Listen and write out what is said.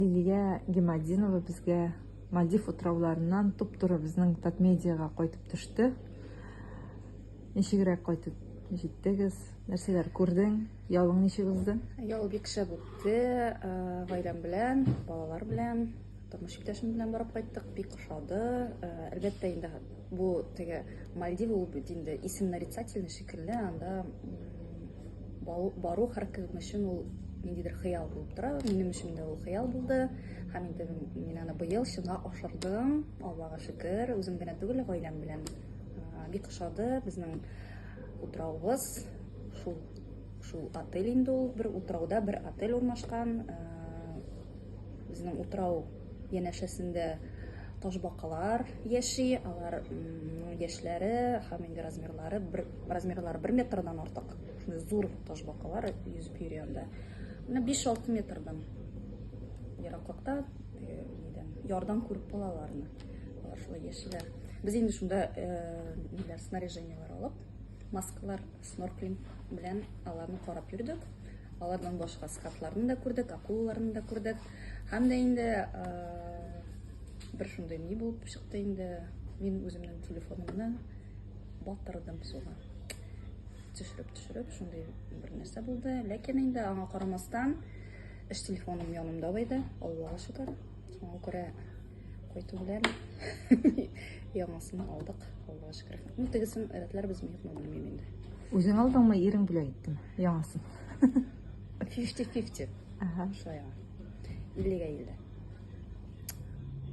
Лилия Гемадинова безгә Мальдив утрауларыннан туп-туры безнең Татмедиага кайтып төште. Ничегрәк кайтып җиттегез? Нәрсәләр күрдең? Ялың ничек узды? Ял бик шәп үтте. Гаиләм белән, балалар белән, тормыш иптәшем белән барып кайттык. Бик ошады. Әлбәттә инде бу теге Мальдив ул бит инде исем нарицательный шикелле, анда Бару һәркем өчен ул ниндидер хыял булып тора. Минем өчен дә ул хыял булды. Һәм инде мин аны быел чынга ашырдым. Аллага шөкер, үзем генә түгел, гаиләм белән бик ошады безнең утравыбыз. Шул шул отель инде ул бер утрауда бер отель урнашкан. Безнең утрау Янәшәсендә ташбакалар яши, алар яшьләре һәм инде размерлары бер размерлары бер метрдан артык. Шундый зур ташбакалар йөзеп йөри анда. Менә 5-6 метрдан ераклыкта ярдан күреп була аларны. Алар шулай яшиләр. Без инде шунда ниләр снаряжениеләр алып Маскалар, снорклинг белән аларны карап йөрдек. Алардан башка скатларны да күрдек, акулаларны да күрдек. Һәм дә инде бер шундый ни булып чыкты инде. Мин үземнең телефонымны батырдым суга. Төшереп, төшереп, шундый бер нәрсә булды. Ләкин инде аңа карамастан, эш телефоным янымда байды, Аллага шөкер. Шуңа күрә кайту белән яңасын алдык, Аллага шөкер. Ну, тегесен рәтләрбез ми, юкмы белмим инде. Үзең алдыңмы, ирең бүләк иттеме? Яңасын. 50-50. Ага. Шулай яңа. 50-га 50.